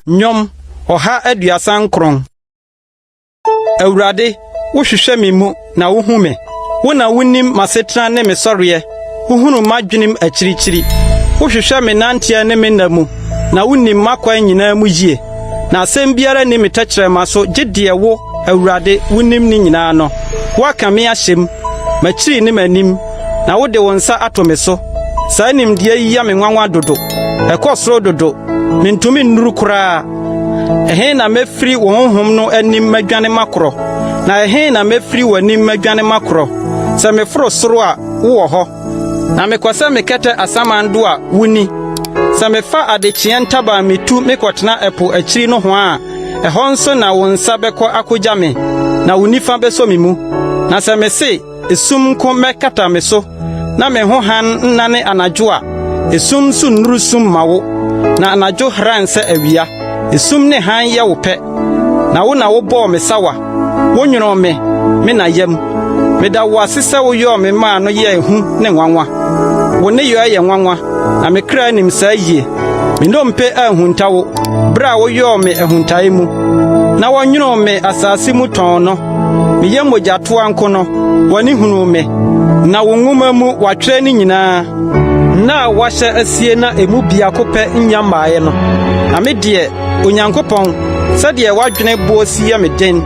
Nnwom ɔha aduasa nkron. Awurade, wohwehwɛ me mu na wohu me. Wo na wonim m'asetena ne me sɔreɛ. Wohunu m'adwenem akyirikyiri. Wohwehwɛ me nanteɛ ne me nna mu, na wonim m'akwan nyinaa mu yie. Na asɛm biara nni me tɛkyerɛma so gye deɛ wo Awurade, wunim ne nyinaa no, woaka me ahyɛ mu, m'akyiri ne m'anim, na wode wo nsa ato me so. Saa nimdeɛ yi yɛ me nwanwa dodo, ɛkɔ soro dodo, mintumi nnuru koraa. Ɛhe na mefiri wo honhom no anim madwane makorɔ? Na ɛhe na mefiri w'anim madwane makorɔ? Sɛ meforo soro a, wowɔ hɔ, na mekɔ sɛ mekɛtɛ asaman do a, wunni. Sɛ mefa adekyeɛ ntaban mitu mekɔtena ɛpo akyiri nohoa a, Ɛhɔ nso na wo nsa bɛkɔ akogya me, na wo nifa bɛsɔ me mu. Na sɛ mise, 'Esum nko mmɛkata me so, na me ho hann nnane anadwo' a, esum nso nnuru sum mma wo, na anadwo hran sɛ awia. Esum ne hann yɛ wo pɛ, na wo na wobɔɔ me sawa. Wonwonoo me, me na yam. Meda wo ase sɛ woyɔɔ me maa no yɛɛ hu ne nwanwa. Wo nneyɔɛ yɛ nwanwa, na me kra nim saa yie. Me nnompe anhunta wo bere a woyɔɔ me ahuntae mu, na wɔnwonoo me asase mu tɔnn no. Meyɛ mogyatoa nko no, w'ani hunuu me, na wo nwoma mu wɔatwerɛ ne nyinaa. Nna a wɔahyɛ asie na emu biako pɛ nnya mmaeɛ no, na me deɛ Onyankopɔn, sɛdeɛ w'adwene boɔ si yɛ me den,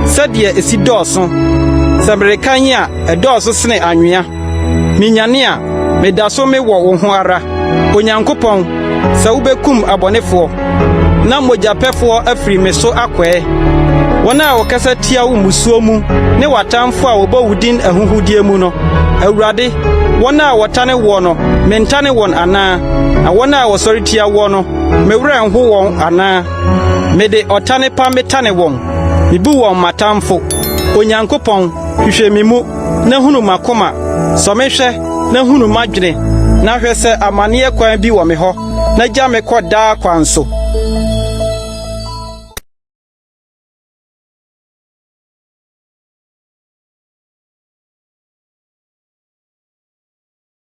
sɛdeɛ ɛsi dɔɔso! Sɛ merekan a, ɛdɔɔso sene anwea. Menyane a, meda so me wɔ wo ho ara. Onyankopɔn, sɛ wobɛkum abɔnefoɔ, na mogyapɛfoɔ afiri me so akɔɛ, wɔn a wɔkasa tia wo mmusuo mu ne w'atamfoɔ a wɔbɔ wo din ahuhudeɛ mu no, Awurade, wɔn a wɔtane woɔ no, mentane wɔn anaa? Na wɔn a wɔsɔre tia woɔ no, Me werɛ nho wɔn anaa? Mede ɔtane pa metane wɔn, mibu wɔn m'atamfo. Onyankopɔn, hwehwɛ me mu, na hunu m'akoma, sɔ me hwɛ, na hunu m'adwene, na hwɛ sɛ amanneɛ kwan bi wɔ me hɔ, na gya me kɔ daa kwan so.